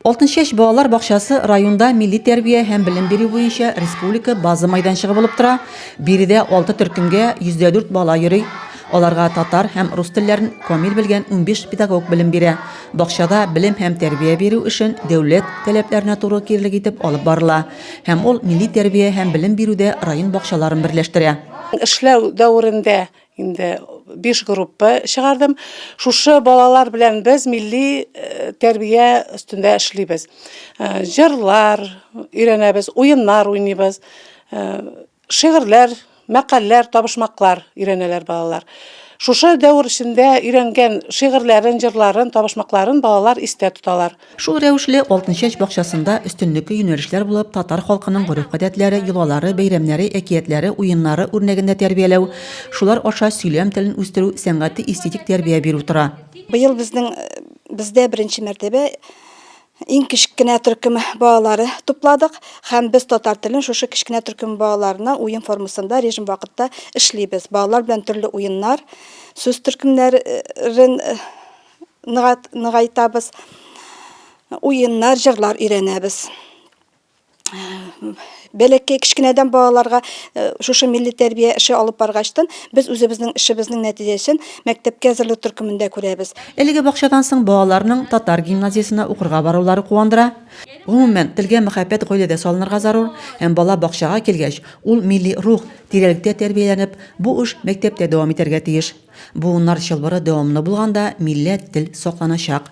Алтын чәч балалар бакчасы районда милли тәрбия һәм белем бирү буенча республика база майданчыгы булып тора. Биредә алты төркемгә 104 бала йөри. Аларга татар һәм рус телләрен камил белгән 15 педагог белем бирә. Бакчада белем һәм тәрбия бирү эшен дәүләт таләпләренә туры килерлек итеп алып барыла. Һәм ул милли тәрбия һәм белем бирүдә район бакчаларын берләштерә. Эшләү дәверендә инде биш группа чыгардым. Шушы балалар белән без милли э, тәрбия өстендә эшлибез. Э, җырлар өйрәнәбез, уеннар уйныйбыз, э, шигырьләр, мәкальләр, табышмаклар өйрәнәләр балалар. Шушы дәвер эчендә өйрәнгән шигырьләрен, җырларын, табышмакларын балалар истә тоталар. Шул рәвешле Алтынчәч бакчасында өстенлекле юнәлешләр булып татар халкының гореф-гадәтләре, йолалары, бәйрәмнәре, әкиятләре, уеннары үрнәгендә тәрбияләү, шулар аша сөйләм телен үстерү, сәнгати-эстетик тәрбия бирү тора. Быел безнең бездә беренче мәртәбә иң кечкенә төркем балалары тупладык һәм без татар телен шушы кечкенә төркем балаларына уен формасында режим вакытта эшлибез. Балалар белән төрле уеннар, сүз төркемнәрен нығайтабыз, уеннар, җырлар өйрәнәбез. Бәләкәй кечкенәдән балаларга э, шушы милли тәрбия эше алып баргачтан без үзебезнең эшебезнең нәтиҗәсен мәктәпкә әзерләү төркемендә күрәбез. Әлеге бакчадан соң балаларның татар гимназиясенә укырга барулары куандыра. Гомумән, телгә мәхәббәт гаиләдә салынырга зарур, һәм бала бакчага килгәч, ул милли рух, тирәлектә тәрбияләнеп, бу эш мәктәптә дәвам итәргә тиеш. Буыннар чылбыры дәвамлы булганда милләт тел сакланачак.